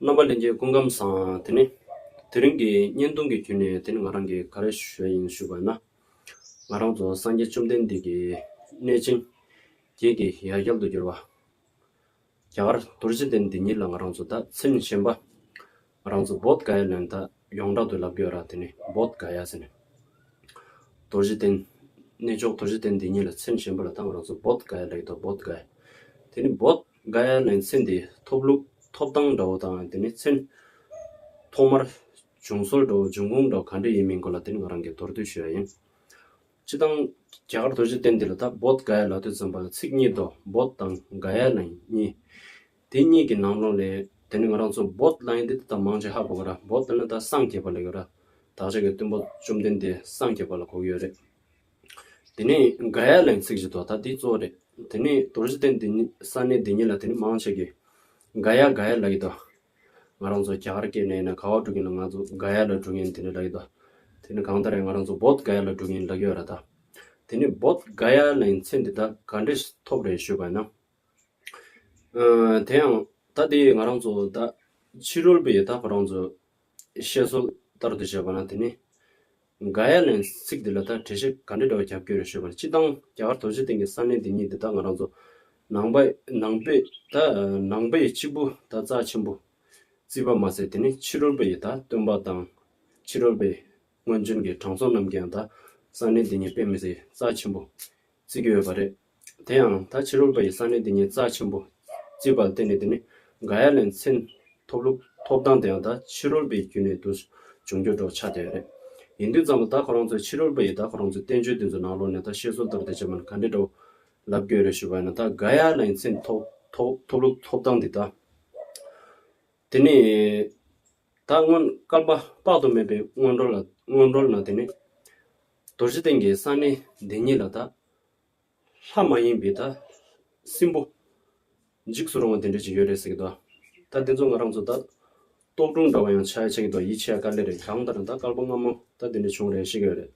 རྣམ་པ་ལེན་རྒྱུའི་ཀུན་ཁམས་བཟང་དེ་ནི། དེ་རིང་གི་བརྙན་ཐུང་གི་བརྒྱུད་ནས་དེ་ནི་ང་རང་གི་ག་རེ་ཞུ་ཡ་ཡིན་ཞུ་དགོས་ན། ང་རང་ཚོ་སངས་རྒྱས་བཅོམ་ལྡན་འདས་ཀྱི་གནས་ཆེན་བརྒྱད་ཀྱི་ཡ་གྱལ་དུ་གྱུར་བ། རྒྱ་གར་དུར་བྱིད་ལྡན་འདི་ཉིད་ལ་ང་རང་ཚོ་ད་ཚིམ་བཞིན་པ། ང་རང་ཚོ་བོད་ག་ཡ་ལོན་ད་ཡོངས་གྲགས་དུ་ལབ་དགོས་ར་དེ་ནི་བོད་ག་ཡ་ཟེར་ནས། དུར་བྱིད་ལྡན། གནས་མཆོག་དུར་བྱིད་ལྡན་འདི་ཉིད་ལ་ཚིམ་བཞིན་པ་ལ་ད་ང་རང་ཚོ་བོད་ག་ཡ་ལེགས་དོ་བོད་ག་ཡ། དེ་ནི་བོད། འགའ་ཡང་ནི་ཚེ་འདིའི་ཐོབ་ལུགས་ཐོབ་ཐང་འདྲ་བོ་དང་དེ་ནི་ཚེ་ཐོག་མར་བྱུང་སྲོལ་འདྲ་བོ་འབྱུང་ཁུངས་འདྲ་བོ་ག་འདྲ་ཡིན་མིན་སྐོར་ལ་དེ་ནི་ང་རང་གིས་མདོར་བསྡུས་ཞུས་པ་ཡིན། སྤྱི་བཏང། རྒྱ་གར་རྡོ་རྗེ་གདན་འདི་ལ་ད་བོད་འགའ་ཡ་ལ་དོད་ཙམ་པ་ལ་ཚིག་གཉིས་འདུག་བོད་དང་འགའ་ཡ་ལ་གཉིས། དེ་གཉིས་ཀྱི་ནང་ལོགས་ལས་དེ་ནི་ང་རང་ཚོ་བོད་ལ་ཡིན་ཏེ་དེ་དག་མང་ཆེ་ཧ་གོ་གི་ར་བོད་ལ་ནི་ད་སངས་རྒྱས་པ་ལ་ཡོད་ར་དག་ཆ་གི་བསྟུན་པ་བཅོམ་ལྡན་འདས་སངས་རྒྱས་པ་ལ་གོ་གི་ཡོད་རེད། དེ་ནས་འགའ་ཡ་ལན་ཚིག་བཞི་དོ་ད་དེ་གཙོ་རེད། དེ་ནས་དོར་བཞི་སྟེ་འདི་གཉིས་ས་གནས་འདི་གཉིས་ལ་དེ་ནི་མང་བྱེད་དགོས། འགའ་ཡ་འགའ་ཡ་ལ་ཡི་དོ། ང་རང་ཚོ་རྒྱ་གར་སྐད་ནས་ཡིན་ན་ག་བ་འགྲོ་གིན་ལ་ང་ཚོ་འགའ་ཡ་ལ་འགྲོ་གིན་དེ་ནི་ལ་ཡི་དོ། དེ་ནི་གང་ལྟར་ཡང་ང་རང་ཚོ་བོད་འགའ་ཡ་ལ་འགྲོ་གིན་ལ་ཡོད་ར་ད། དེ་ནས་བོད་འགའ་ཡ་ལན་ཚིག་འདི་ད་ག་འདྲ་ཞིག་ཐོབ་རེད་ཞུས་པ་ན། དེ་ཡང་ད་དེ་ང་རང་ཚོ་ད་ཕྱི་རོལ་པའི་ད་ཁོ་རང་ཚོ་བཤད་སྲོལ་ལྟར་དུ་བྱས་པ་ན་དེ་ནི། འགའ་ཡ་ལན་ཚིག་འདི་ལ་ད་གྲེ་ཤེས་ག་འདྲེ་འདྲ་བ་རྒྱབ་སྐྱོར་རེ་ཤོད་པ་ལ་སྤྱི་བཏང་རྒྱ་གར་དོ་རྗེ་སྟེང་གི་ས་གནས་འདི་གཉིས་འདི་དག་ང་རང་ཚོ་ནང་པ་ནང་པའི་ད་ནང་པ་ཡི་གཅིག་པུ་ད་རྩ་ཆེན་པོ་རྩིས་པ་མ་ཟད་དེ་ནི་ཕྱི་རོལ་པ་ཡི་ད་སྟོན་པ་དང་ཕྱི་རོལ་པའི་སྔོན་བྱོན་གྱི་དྲང་སྲོང་རྣམས་ཀྱི་ཡང་ད་ས་གནས་འདི་གཉིས་དཔེ་མི་སྲིད་རྩ་ཆེན་པོ་རྩིས་ཀྱི་ཡོད་པ་རེད། དེ་ཡང་ད་ཕྱི་རོལ་པ་ཡི་ས་གནས་དེ་ཉིད་རྩ་ཆེན་པོ་རྩིས་པར་བརྟེན་ནས་དེ་ནི་འགའ་ཡ་ལས་མཚན་ཐོབ་ལུགས་ཐོབ་ཐང་དེ་ཡང་ད་ཕྱི་རོལ་པའི་རྒྱུད་ནས་དུ་བྱུང་འགྱུར་འགྲོ་ཆགས་དེ་རེད། ཡིན་དུས་ཙམ་ལ་ད་ཁོ་རང་ཚོས་ཕྱི་རོལ་པ་ཡིས་ད་ཁོ་རང་ཚོའི་བསྟན་བཅོས་དེ་ཚོའི་ནང་ལོགས་ནས་ད་བཤད་སྲོལ་ལྟར་དེ་བྱས་མིན་ག་འདྲས་འདྲ་བོ་ལབ་དགོས་རེད་ཞུས་པ་ཡིན་ན་ད་འགའ་ཡ་ལས་མཚན་ཐོབ་ལུགས་ཐོབ་ཐང་དེ་ད། དེ་ནི་ད་སྔོན་བསྐལ་པ་དཔག་ཏུ་མེད་པའི་སྔོན་འགྲོ་ལ་སྔོན་འགྲོ་ན་དེ་ནི། རྡོ་རྗེ་གདན་གྱི་ས་གནས་འདི་ཉིད་ལ་ད། ལྷ་མ་ཡིན་པའི་ད་སྲིན་པོ། འཇིགས་སུ་རུང་བ་དེ་འདྲས་ཅིག་ཡོད་རེད་ཟེར་གི་འདུག་ད་དེ་ཚོ་ང་རང་ཚོ་ད་ལྟོགས་སྒྲུང་འདྲ་བ་ཡང་ཆགས་ཡ་ཆགས་ཀྱི་འདུག་ཡིད་ཆེས་དཀའ་ལེ་རེད་གང་ལྟར་ད་དཀར་པོ་སྔ་མོ་ད་དེ་འདྲས་བྱུང་རེད་ཤེས་ཀྱི་ཡོད་རེད།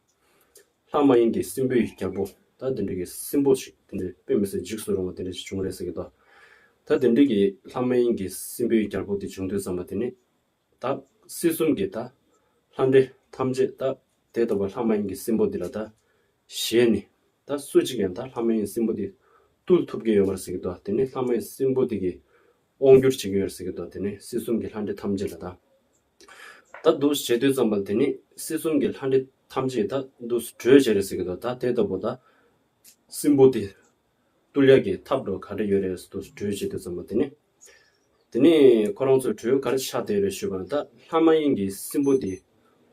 ལྷ་མ་ཡིན་གྱི་སྲིན་པོའི་རྒྱལ་པོ་ད་དེ་འདྲས་ཀྱི་སྲིན་པོ་ཞིག་དེ་འདྲས་དཔེ་མི་སྲིད་འཇིགས་སུ་རུང་བ་དེ་འདྲས་ཅིག་བྱུང་རེད་ཟེར་གྱི་འདུག་ད་དེ་འདྲས་ཀྱི་ལྷ་མ་ཡིན་གྱི་སྲིན་པོའི་རྒྱལ་པོ་དེ་བྱུང་དུས་བསམ་པ་དེ་ནི། བདག། སྲིད་གསུམ་གྱི་བདག། ལྷ་འདྲེ་ཐམས་ཅད་བདག། དེ་ལྟ་བུ་ལྷ་མ་ཡིན་གྱི་སྲིན་པོ་འདི་ལ་བདག། གཞན་ནི། བདག་སུ་གཅིག་ཡང་བདག་ལྷ་མ་ཡིན་སྲིན་པོ་འདི། བཏུལ་ཐུབ་ཀྱི་ཡོད་པར་ཟེར་གྱི་འདུག་དེ་ནི་ལྷ་མ་ཡིན་སྲིན་པོ་འདི་གིས། དབང་བསྒྱུར་བྱེད་ཀྱི་ཡོད་ཟེར་གྱི་འདུག་དེ་ནི་སྲིད་གསུམ་གྱི་ལྷ་འདྲེ་ཐམས་ཅད་ལ་བདག། བདག། འདུ་བྱེད་དུས་ཙམ་པ་དེ་ནི་སྲིད་གསུམ་གྱི་ལྷ་འདྲེ་ཐམས་ཅད་བདག། འདུ་བྱེད་རེད་ཟེར་གྱི་འདུག་ད་དེ་ལྟ་བུ་བདག། སྲིན་པོ་འདི། བསྟུད་ལེགས་ཀྱི་ཐབས་འགྲོ་ག་འདྲ་ཡོད་རེད་ཟེར་དུ་གྲོས་བྱེད་དུ་བརྩམས་པ་དེ་ནི། དེ་ནི་ཁོ་རང་ཚོས་གྲོས་ག་རེ་བྱ་བདེ་རེད་ཞུས་པར་ད་ལྷ་མ་ཡིན་གྱི་སྲིན་པོ་འདིས་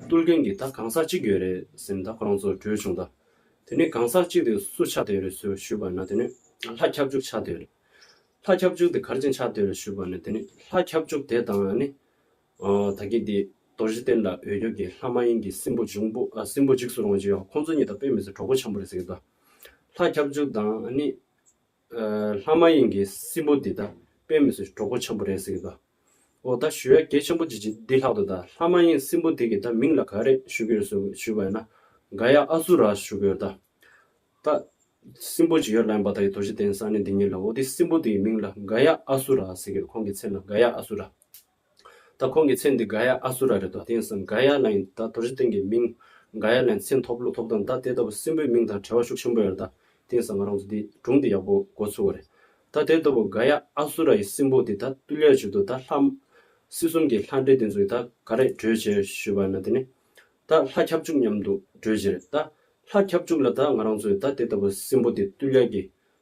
བསྟུད་མཁན་གྱི་ད་གང་ཟག་གཅིག་ཡོད་རེད་ཟེར་ནས་ད་ཁོ་རང་ཚོར་གྲོས་བྱུང་ད་དེ་ནི་གང་ཟག་གཅིག་དེ་སུ་ཆགས་བདེ་རེད་ཟེར་ཞུས་པར་ན་དེ་ནི། ལྷ་ཁྱབ་འཇུག་ཆགས་བདེ་རེད། ལྷ་ཁྱབ་འཇུག་དེ་གར་ཕྱིན་ཆགས་བདེ་རེད་ཞུས་པར་ནི་དེ་ནི་ལྷ་ཁྱབ་འཇུག་དེ་དང་ནི་ད་གིན་དེ་རྡོ་རྗེ་གཏེར་ལ་འོས་སྐྱོར་གྱི་ལྷ་མ་ཡིན་གྱི་སྲིན་པོ་འབྱུང་པོ་སྲིན་པོ་འཇིགས་སུ་རུང་བ་བཅུ་ཡོད་ཁོང་ཚོ་གཉིས་དང་དཔེ་མི་ཚོ་གྲོགས་པོ་འཆམ་པོ་རེད་ཟེར་གྱི་འདུག་ལྷ་ཁྱབ་འཇུག་དང་ནི། ལྷ་མ་ཡིན་གྱི་སྲིན་པོ་འདི་དག་དཔེ་མི་ཚོས་གྲོགས་པོ་འཆམ་པོ་རེད་ཟེར་གྱི་འདུག་འོ་ད་ཞུ་ཡ་གལ་ཆེན་པོ་ཅིག་འདི་ལྷག་ཏུ་ད་ལྷ་མ་ཡིན་སྲིན་པོ་དེ་གི་ད་མིང་ལ་ག་རེ་ཞུ་གི་རེད་ཟུར་ཞུས་པ་ཡིན་ན་ག་ཡ་ཨ་ཟུར་ར་ཞུ་གི་ཡོད་ད། ད་སྲིན་པོ་ཅིག་ཡོད་ལ་ཡིན་པ་ད་གི་རྡོ་རྗེ་གཏེར་ས་གནས་འདི་ཉིད་ལ་འོ་དེ་སྲིན་པོ་དེ་གི་མིང་ལ་ག་ཡ་ཨ་ཟུར་ར་ཟེར་གྱི་འདུག་ཁོང་གི་མཚན་ལ་ག་ཡ་ཨ་ཟུར་ར། ད་ཁོང་གི་མཚན་འདི་གྷ་ཡཱ་ཨ་སུ་ར་རེད་དོ་དེང་སང་གྷ་ཡཱ་ན་ཡིན་ད་དོར་ཞི་ཐེང་གི་མིང་གྷ་ཡཱ་ལན་མཚན་ཐོབ་ལོ་ཐོབ་དང་ད་དེ་ལྟ་བུ་སྲིན་པོའི་མིང་དང་བྲལ་བ་ཤུགས་ཆེན་པོ་ཡོད་རེད་ད་དེང་སང་ང་རང་ཚོ་འདི་སྒྲུང་འདི་ཡག་པོ་མགོ་ཚུགས་བ་རེད་ད་དེ་ལྟ་བུ་གྷ་ཡཱ་ཨ་སུ་ར་ཡི་སྲིན་པོ་དེ་ད་ཏུ་ལས་བྱོས་དུ་ད་ལྷ། སྲིད་གསུམ་གྱི་ལྷ་འདྲེ་དེ་ཚོ་ཡི་ད་ག་རེད་གྲོས་བྱས་ཞུས་པ་ན་དེ་ནི་ད་ལྷ་ཁྱབ་འཇུག་མཉམ་དུ་གྲོས་བྱས་རེད་ད་ལྷ་ཁྱབ་འཇུག་ལ་ད་ང་རང་ཚོ་ཡི་ད་དེ་ལྟ་བུ་སྲིན་པོ་དེ་ཏུ་ལས་ཀྱི་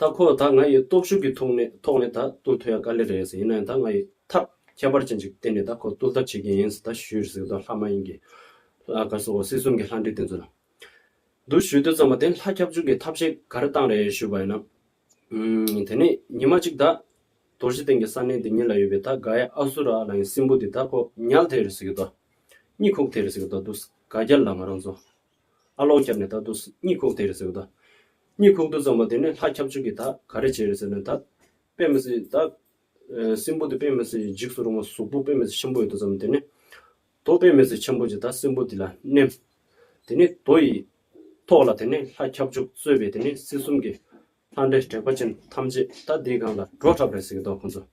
ད་ཁོ་ད་ང་ཡི་སྟོབས་ཤུགས་ཀྱི་ཐོག་ནས་ཐོག་ནས་ད་བཏུལ་ཐུབ་ཡ་དཀའ་ལེ་རེད་ཟེར་ཡིན་ནའི་ད་ང་ཡི་ཐབས་ཁྱད་པར་ཅན་ཅིག་བསྟེན་ནས་ད་ཁོ་བཏུལ་ཐབས་བྱེད་ཀྱིན་ཡིན་ཟེར་ད་ཞུས་ཟེར་ད་ལྷ་མ་ཡིན་གྱི། ལྷ་དཀར་སོགས་སྲིད་གསུམ་གྱི་ལྷ་འདྲེ་དེ་ཚོ་ལ། འདུ་ཞུས་འདོད་ཙམ་པ་དེ་ལྷ་ཁྱབ་འཇུག་གི་ཐབས་ཤེས་ག་རེ་བཏང་རེད་ཞུས་པ་ཡིན་ན། ཨུམ། དེ་ནས་ཉི་མ་གཅིག་ད། དོར་ཞི་སྟེང་གི་ས་གནས་དེ་ཉིད་ལ་ཡོད་པའི་ད་ག་ཡ་ཨ་སུ་ར་ལ་ཡང་སྲིན་པོ་དེ་ད་ཁོ་ཉལ་ཐེར་ཟེར་གྱི་ད། གཉིད་ཁུག་ཐེར་ཟེར་གྱི་ད་འདུག་ག་རྒྱ་ལ་ང་རང་ཚོ་ཨ་ལོང་བརྒྱབ་ནས་ད་དུ་གཉིད་ཁུག་དེ་རེད་ཟེར་གི་ད། གཉིད་ཁུག་དུ་ཙམ་པོ་དེ་ནས་ལྷ་ཁྱབ་ཆུ་གིས་ད་ག་རེ་བྱས་རེད་ཟེར་ནས་ད། དཔེ་མི་སྲིད་ད། སྲིན་པོ་དེ་དཔེ་མི་སྲིད་འཇིགས་སུ་རུང་བ་གཟུགས་པོ་དཔེ་མི་སྲིད་ཆེན་པོ་ཡོད་དོ་ཙམ་དེ་ནས། དོ་དཔེ་མི་སྲིད་ཆེན་པོ་གྱིས་ད་སྲིན་པོ་དེ་ལ་མནན། དེ་ནས་དོ་ཡི། ཐོག་ལ་དེ་ནས་ལྷ་ཁྱབ་ཆུ་གསོས་པས་དེ་ནས་སྲིད་གསུམ་གྱི། ལྷ་འདྲེ་དྲེགས་པ་ཅན་ཐམས་ཅད་ད་དེའི་སྒང་ལ་འགྲོ་གྲབས་རེད་ཟེར་གི་ད་ཁོང་ཚོ།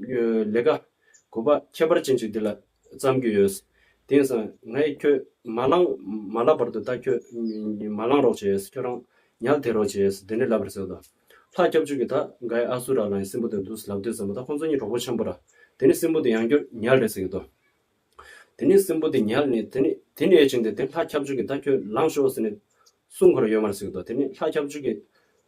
ལས་ཀ་དགོས་པ་ཁྱད་པར་ཅན་ཞིག་འདི་ལ་བརྩམས་ཀྱི་ཡོད། དེང་སང་ངས་ཁྱོད་མ་བླངས་མ་བསླབ་བར་དུ་ད་ཁྱོད་མ་བླངས་རོགས་བྱས། ཁྱོད་རང་ཉལ་ཐེ་རོགས་བྱས་དེ་ནས་ལབ་རེ་ཟེར་དང། ལྷ་སྐྱབས་བཅོལ་གྱིས་ད་འགའ་ཡི་ཨ་སུ་ར་ལའི་སྲིན་པོ་དེ་འདུག་ལབ་དུས་བསམ་པ་ད་ཁོང་ཚོ་གཉིས་གྲོགས་པོ་ཆེན་པོ་ར། དེ་ནས་སྲིན་པོ་དེ་ཡང་བསྐྱུར་ཉལ་རེ་ཟེར་དང། དེ་ནས་སྲིན་པོ་དེ་ཉལ་ནས་དེ་ནས་དེ་ནས་ཡས་བྱིན་ཏེ་དེ་ལྷ་སྐྱབས་བཅོལ་གྱིས་ད་ཁྱོད་ལངས་ཤོག་ཟེར་ནས་སྲུང་འཁོར་ཡོད་མར་ཟེར་དང་དེ་ནས་ལྷ་སྐྱབས་བཅོལ་གྱིས་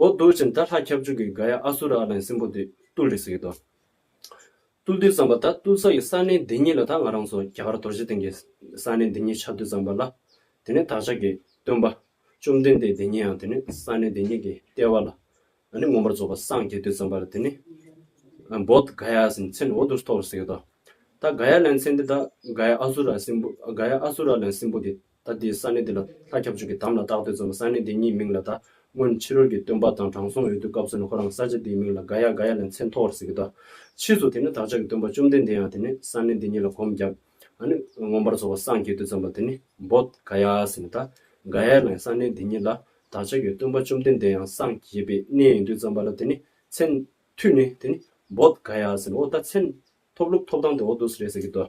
ཨོ་དུར་བྱིན་ད་ལྷ་ཁྱབ་འཇུག་གི་ག་ཡ་ཨ་སུ་ར་ཨ་ལན་སྲིན་པོ་དེ་ཏུ་ལི་སི་གི་དོ། ཏུ་ལི་བསམ་པ་ད་ཏུ་ས་ཡི་ས་གནས་འདི་ཉིད་ལ་ད་ང་རང་ཚོ་རྒྱ་གར་དོར་ཞི་སྟེང་གི་ས་གནས་འདི་ཉིད་ཆ་ཏུ་བརྩམས་པ་ལ། དེ་ནས་བདག་ཅག་གི་སྟོན་པ་བཅོམ་ལྡན་འདས་འདི་ཉིད་ཡང་དེ་ནས་ས་གནས་འདི་ཉིད་ཀྱི་ལྟེ་བ་ལ་ནི་མངོན་པར་རྫོགས་པ་སངས་རྒྱས་ཏུ་བརྩམས་པར་དེ་ནི་བོད་ག་ཡ་ཨ་སི་མཚན་ཨོ་དུར་ཐོ་ལི་སི་གི་དོ། ད་ག་ཡ་ལན་མཚན་འདི་ད་ག་ཡ་ཨ་སུ་ར་སྲིན་པོ་ག་ཡ་ཨ་སུ་ར་ལན་སྲིན་པོ་དེ་ད་དེའི་ས་གནས་དེ་ལ་ལྷ་ཁྱབ་ཆོས་ཀྱི་དམ་ལ་བཏགས་དུས་ཙམ་ས་གནས་དེའི་མྱིའི་མིང་ལ་ད་སྔོན་ཕྱི་རོལ་གྱི་སྟོན་པ་དང་དྲང་སྲོང་འོད་དུ་སྐབས་སུ་ནི་ཁོ་རང་ས་ཆ་དེའི་མིང་ལ་དགའ་ཡ་དགའ་ཡ་ལས་མཚན་ཐོག་བར་ཟེར་གྱི་ད་ཕྱིས་སུ་དེ་ནི་བདག་ཅག་གི་སྟོན་པ་བཅོམ་ལྡན་འདས་ཡང་དེ་ནི་ས་གནས་འདི་ཉིད་ལ་གོམས་བརྒྱབ། ཨ་ནི་ངོམས་པར་རྫོགས་པ་སངས་རྒྱས་དུས་ཙམ་པ་དེ་ནི་འབོ་དགའ་ཡ་ཟེར་ནས་ད་དགའ་ཡ་ལས་ས་གནས་འདི་ཉིད་ལ་བདག་ཅག་གི་སྟོན་པ་བཅོམ་ལྡན་འདས་ཡང་སངས་རྒྱས་པའི་གནས་ཡིན་དུས་ཙམ་པ་ལ་དེ་ནི་མཚན་ཐུགས་ནི་དེ་ནི་འབོ་དགའ་ཡ་ཟེར་ནས་འོ་ད་མཚན་ཐོབ་ལུགས་ཐོབ་ཐང་དེ་འོ་དུ་ཟེར་རེད་ཟེར་གྱི་ད།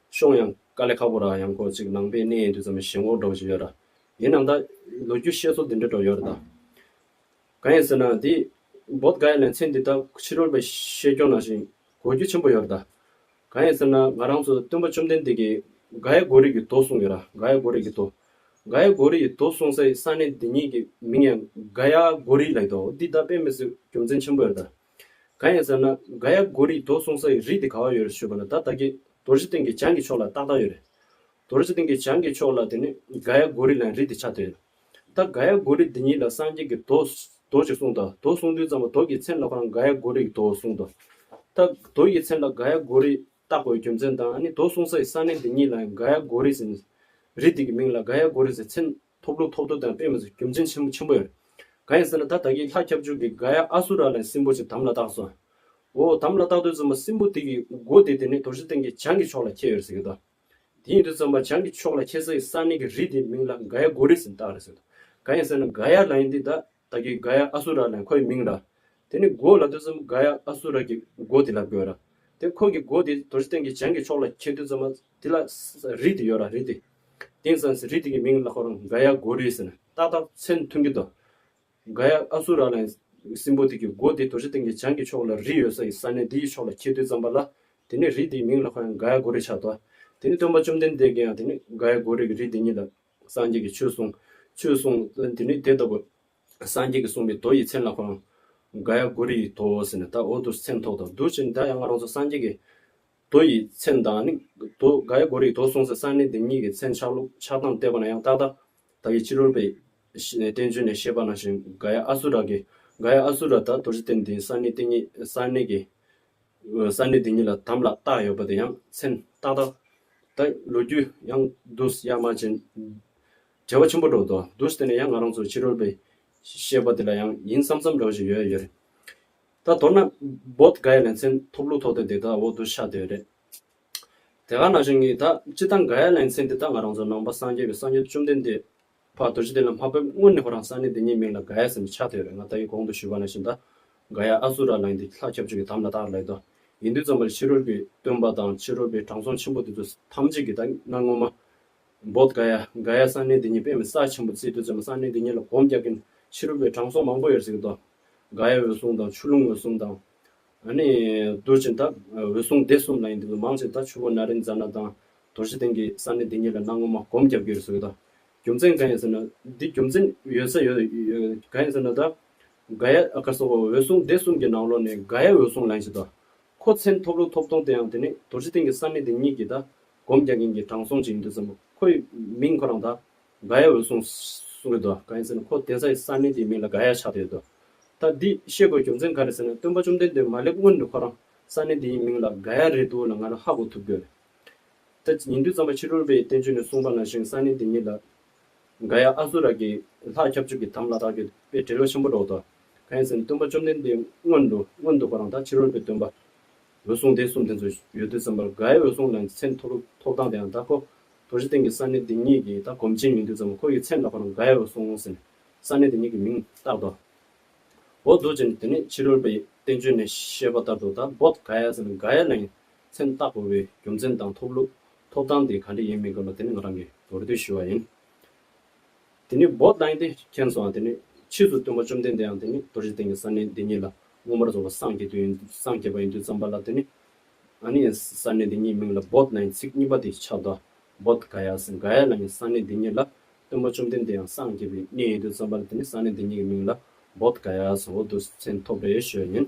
ཤོང་ཡང་དཀའ་ལས་ཁག་པོ་རག་ཡང་ཁོག་ཅིག་ནང་པའི་གནས་ཡིན་དུས་ཙམ་ཞེན་ཁོག་སྒྲོག་བཞིན་ཡོད་ར། ཡིན་ནམ་ད། ལོ་རྒྱུས་བཤད་སྲོལ་འདི་འདྲ་སྒྲོག་ཡོད་ར་ད། གང་ཡིན་ཟེར་ན་འདི། བོད་དགའི་ལན་ཚན་འདི་དག་ཕྱི་རོལ་པའི་ཤེས་སྐྱོང་ནང་བཞིན་གོ་རྒྱུ་ཆེན་པོ་ཡོད་ར་ད། གང་ཡིན་ཟེར་ན་ང་རང་ཚོའི་སྟོན་པ་བཅོམ་ལྡན་འདས་ཀྱིས་དགའའི་གོ་རིགས་ཀྱི་མདོ་གསུངས་ཡོད་ར་དགའའི་གོ་རིགས་ཀྱི་མདོ། དགའའི་གོ་རིགས་ཀྱི་མདོ་གསུངས་སའི་ས་གནས་འདི་ཉིད་ཀྱི་མིང་ཡང་དགའ་ཡ་གོ་རིགས་ལ་ཡོད་དོ་འདི་ད་དཔེ་མི་སྲིད་རྒྱུ་མཚན་ཆེན་པོ་ཡོད་ར་ད། གང་ཡིན་ཟེར་ན་ག་ཡ་གོ་རིགས་དོག་གསུང་ས་ཡི་རིགས་དེ་ག་བ་ཡོད་རེད་ཞུས་པ་ལ་ད་ལྟ་གི་དོར་རྗེ་སྟེང་གི་བྱང་གི་ཕྱོགས་ལ་ཏག་ཏག་ཡོད་རེད། དོར་རྗེ་སྟེང་གི་བྱང་གི་ཕྱོགས་ལ་དེ་ནི་ག་ཡ་གོ་རིགས་ལའང་རིགས་དེ་ཆགས་དེ། ད་ག་ཡ་གོ་རིགས་འདི་ཉིད་ལ་སངས་རྒྱས་ཀྱི་དོག་དོག་ཅིག་གསུང་ད་དོག་གསུང་དུས་ཙམ་པ་དོག་གི་མཚན་ལ་ཁང་ག་ཡ་གོ་རིགས་དོག་གསུང་ད། ད་དོག་གི་མཚན་ལ་ག་ཡ་གོ་རིགས་བཏགས་པའི་རྒྱུ་མཚན་དང་ནི་དོག་གསུང་ས་ཡི་ས་གནས་འདི་ཉིད་ལའང་ག་ཡ་གོ་རིགས་ཟེར་ནས་རིགས་དེ་གི་མིང་ལ་ག་ཡ་གོ་རིགས་ཟེར་མཚན་ཐོབ་ལོ་ཐོབ་ཐོ་དང་སྤེལ་མ་ཟེར་རྒྱུ་མཚན་ཆེན་པོ་ཆེན་པོ་ཡོད། གང་ཡིན་ཟེར་ན་ད་བདག་གིས་ལྷ་ཁྱབ་འཇུག་གི་དགའ་ཡ་ཨ་སུ་ར་ལའི་སྲིན་པོ་ཞིག་དམ་ལ་བཏགས་སོ། འོ་དམ་ལ་བཏགས་དུས་བཙུན་པ་སྲིན་པོ་དེ་གི་མགོ་དེ་དེ་ནས་དོར་ཞིང་སྟེང་གི་བྱང་གི་ཕྱོགས་ལ་ཁྱེར་ཡོད་རེད་ཟེར་གྱི་འདུག་དེ་ཡིན་དུས་བཙུན་པ་བྱང་གི་ཕྱོགས་ལ་ཁྱེར་ས་ཡི་ས་གནས་ཀྱི་རི་དེའི་མིང་ལ་དགའ་ཡ་མགོ་རི་ཟེར་བཏགས་རེད་ཟེར་འདུག་གང་ཡིན་ཟེར་ན་དགའ་ཡ་ལ་ཡིན་དུས་ད་བདག་གིས་གཱ་ཡཱ་ཨ་སུ་ར་ནས་ཁོའི་མིང་ར། དེ་ནི་སྒོ་ལ་ཐོས་བསམ་གཱ་ཡཱ་ཨ་སུ་ར་གི་སྒོ་དེ་ལ་དགོས་ར། དེ་ཁོ་གི་སྒོ་དེ་དོར་སྟེང་གི་བྱང་གི་ཕྱོགས་ལ་ཁྱེར་དུས་ཙམ་མ་དེ་ལ་རི་དེ་ཡོད་ར་རི་དེ། དེང་སང་རི་དེ་གི་མིང་ལ་ཁོར་གཱ་ཡཱ་སྒོ་རི་ཟེར་ན་ཏག་ཏག་མཚན་མཐུན་གི་འདུག་གཱ་ཡཱ་ཨ་སུ་ར་ནས་སྲིན་པོ་དེ་གི་སྒོ་དེ་དོར་སྟེང་གི་བྱང་གི་ཕྱོགས་ལ་རི་ཡོད་ས་ཡི་ས་གནས་དེ་ཡི་ཕྱོགས་ལ་ཁྱེར་དུས་ཙམ་པ་ལ་དེ་ནི་རི་དེ་ཡི་མིང་ལ་ཁོ་ཡང་གཱ་ཡཱ་སྒོ་རི་ཆགས་འདུག་དེ་ནི་སྟོན་པ་བཅོམ་ལྡན་འདས་ཀྱི་ཡང་དེ་ནི་གཱ་ཡཱ་སྒོ་རི་གི་རི་དེ་ཉིད་ལ་སངས་རྒྱས་ཀྱི་ཆོས་གསུངས། ཆོས་གསུངས། དེ་ནས་དེ་ལྟ་བུ། སངས་རྒྱས་ཀྱི་གསུངས་པའི་མདོ་ཡི་མཚན་ལ་གོ། ག་ཡ་གུ་རི་དོ་ཟེར་ནས་ད་འོ་དུ་སེམས་ཐོག་དང་འདུ་བྱེད་འདྲ་ཡང་ང་རང་ཚོ་སངས་རྒྱས་ཀྱི་མདོ་ཡི་མཚན་དང་ནི། དོ། ག་ཡ་གུ་རི་དོ་གསུངས་ཟེར་ས་ནི་དེ་གཉིས་ཀྱི་མཚན་ཆགས་ལུགས་ཆགས་སྟངས་བལྟས་པ་ན་ཡང་ཏག་ཏག་ད་ཡི་ཕྱི་རོལ་པའི། བསྟན་བཅོས་ནས་བཤད་པ་ན་བཞིན་ག་ཡ་ཨ་སུ་ར་གི། ག་ཡ་ཨ་སུ་ར་ད་དོ་རྗེ་བསྟན་དེའི་ས་ནི་དེ་གཉིས་ས་གནས་ཀྱི། ས་གནས་དེ་གཉིས་ལ་དམ་ལ་བཏགས་ཡོད་པ་དེ་ཡང་མཚན་རྟགས་དག་དང་ལོ་རྒྱུས་ཡང་རྡུལ་གཡའ་མ་ཅན། བྲེལ་བ་ཆེན་པོ་འགྲོ་འདུག་རྡུལ་དེ་ནི་ཡང་ང་རང་ཚོ་ཕྱི་རོལ་པའི་ཤེས་པ་དེ་ལ་ཡང་ཡིན་བསམ་བསམ་རང་བཞིན་ཡོད་ཡོད་རེད། ད་མདོར་ན་བོད་འགའ་ཡ་ལན་ཚན་ཐོབ་ལུགས་ཐོག་དེ་དེ་དག་འོག་ཏུ་ཤར་སྡོད་རེད། དེ་ག་ནང་བཞིན་ངེད་དག་སྤྱི་དང་འགའ་ཡ་ལན་ཚན་དེ་དག་ང་རང་ཚོ་ནང་པ་སངས་རྒྱས་པའི་སངས་རྒྱས་བཅོམ་ལྡན་འདས་བར་དོ་ཅི་དེ་ལ་མ་ཕེབས་སྔོན་ནས་ཁོ་རང་ས་གནས་དེ་ཉིད་མིང་ལ་ག་ཡ་ཟེར་ནས་ཆགས་ཐུག་ཡོད་རེད་ང་ད་ཡིན་གོང་དུ་ཞུས་པ་ན་བཞིན་ད་ག་ཡ་ཨ་ཟུ་ར་ལངས་ཏེ་ལྷ་ཁྱབ་ཆོས་ཀྱི་དམ་ལ་བཏགས་ལེགས་དོ། ཡིན་དུས་ཙམ་པ་ལ་ཕྱི་རོལ་གྱི་སྟོན་པ་དང་ཕྱི་རོལ་པའི་དྲང་སྲོང་ཆེན་པོ་དེ་ཚོ་ཐམས་ཅད་ཀྱིས་ད་གནའ་སྔོན་མ། བོད་ག་ཡ་ག་ཡ་ས་གནས་དེ་ཉིད་དཔེ་མི་ས་ཆེན་པོ་བརྩིས་དུས་ཙམ་པ་ས་གནས་དེ་ཉིད་ལ་གོམས་རྒྱག་མཁན་ཕྱི་རོལ་པའི་དྲང་སྲོང་མང་པོ་ཡོད་ཟེར་གྱི་འདུག་ག་ཡ་འོད་སྲུང་དང་ཆུ་ཀླུང་འོད་སྲུང་དང། ཨ་ནི། རྡོ་རྗེ་མཐའ། འོད་སྲུང་སྡེ་གསུམ་ལ་ཡིན་འདི་ལོ་མང་ཚེ་ད་ཆུ་བོ་ན་རེ་འཛའ་ན་དང་དོར་བཞི་སྟེང་གི་ས་གནས་འདི་ཉིད་ལ་གནའ་སྔོན་མ་གོམ་བརྒྱབ་ཀྱི་རུ་སུ་ཡོད་ད། རྒྱུ་མཚན་གང་ཡིན་ཟེར་ན་འདི་རྒྱུ་མཚན་ཡོད་ས་ཡོད་གང་ཡིན་ཟེར་ན་ད། དགའ་ཡ་ཨ་ཁ་སོགས་འོད་སྲུང་སྡེ་གསུམ་གྱི་ནང་ལོགས་ནས་དགའ་ཡ་འོད་སྲུང་ལ་ཡིན་ཞེས་ད། ཁོ་མཚན་ཐོབ་ལུགས་ཐོབ་སྟོང་དེ་ཡང་དེ་ནི་དོར་བཞི་སྟེང་གི་ས་གནས་འདི་ཉིད་ཀྱི་ད་གོམ་བརྒྱག་མཁན་གྱི་དྲང་སྲོང་ཅིག་ཡིན་འདོད་བསམ་མོ་ཁོ་ཡི་མིང་ཁོ་རང་ད་ག་ཡའི་འོད་སྲུང། གསུང་གི་དོ། གང་ཡིན་ཟེར་ན་ཁོ་གདན་ས་ཡི་ས་མིང་དེའི་མིང་ལ་ག་ཡ་ཆགས་བསྡད་ཡོད་དོ། ད་འདི་ཤེས་དགོས་རྒྱུ་མཚན་ག་རེད་ཟེར་ན་སྟོན་པ་བཅོམ་ལྡན་འདས་མ་སླེབས་སྔོན་དུ་ཁོ་རང་ས་གནས་འདི་ཡི་མིང་ལ་ག་ཡ་རེད་འདུག་ལ་ང་རང་ཧ་གོ་ཐུབ་གི་རེད། ད་ཉིན་དུས་གཙང་པ་ཕྱི་དྲོར་པའི་བསྟན་བཅོས་ནས་གསུངས་པ་ནང་བཞིན་ས་གནས་འདི་ཉིད་ལ་ག་ཡ་ཨ་སུ་ར་གི་ལྷ་ཁྱབ་འཇུག་གི་དམ་ལ་དྭགས་ཀྱི་དཔེ་དྲི་ལོ་ཆེན་པོ་སྒྲོག་དོ། གང་ཡིན་ཟེར་ན་སྟོན་པ་བཅོམ་ལྡན་འདས་སྔོན་དུ་སྔོན་དུ་ཁོ་རང་ད་ཕྱི་རོལ་པའི་སྟོན་པ། འོད་སྲུང་སྡེ་གསུམ་དེ་ཚོ་ཡོད་དུས་ཟམ་པར་ག་ཡའི་འོད་སྲུང་ལ་མཚན་ཐོགས་ཐོགས་སྟངས་དེའང་ད་ཁོ་དོ་བཞི་སྟེང་གི་ས་གནས་དེ་གཉིས་ཀྱིས་ད་གོམས་ཆེན་མི་འདུག་ཙམ་ཁོ་ཡི་མཚན་འདོགས་པ་རྣམས་དགའ་ཡ་རུ་སོང་ཟེར་ནས་ས་གནས་དེ་གཉིས་ཀྱི་མིང་བཏགས་ཏོ། བོད་དུ་བྱས་ནས་དེ་ནས་ཕྱི་རོལ་པའི་བསྟན་བཅོས་ནས་བཤད་པ་ལྟར་དུ་ད་བོད་དགའ་ཡ་ཟེར་ནས་དགའ་ཡ་ལའང་མཚན་བཏགས་དགོས་པའི་རྒྱུ་མཚན་དང་ཐོབ་ལུགས་ཐོབ་ཐང་དེ་ག་འདྲ་ཡིན་མི་དགོས་ལ་དེ་ནི་ང་རང་གིས་མདོར་བསྡུས་ཞུས་བ་ཡིན། དེ་ནི་བོད་དགའ་ཡ་དེ་མཁྱེན་སོང་བ་དེ་ནི་ཕྱིས་སུ་སྟོན་པ་བཅོམ་ལྡན་འདས་ཡང་དེ་ནི་དོ་བཞི་སྟེང་གི་ས་གནས་འདི་གཉིས་ལ་མངོན་པར་རྫོགས་པ་སངས་རྒྱས་དུས་ཡིན་སངས་རྒྱས་པ་ཡིན་དུས་བརྩམས་པ་ལ་དེ་ནི་ཨ་ནི་ཡཱས་ས་གནས་འདི་ཉིད་མིང་ལ་བོད་ན་ཡི་ཚིག་གཉིས་པ་དེ་ཆགས་ཏོ། བོད་ག་ཡཱས་འག་ཡཱ་ལ་ཡི་ས་གནས་འདི་ཉིད་ལ་སྟོན་པ་བཅོམ་ལྡན་འདས་ཡང་སངས་རྒྱས་པའི་གནས་ཡིན་དུས་བརྩམས་པ་ལ་དེ་ནི་ས་གནས་འདི་ཉིད་ཀྱི་མིང་ལ་བོད་ག་ཡཱས་འོ་དུ་སེམས་ཐོབ་པའི་ཞོལ་ཡིན།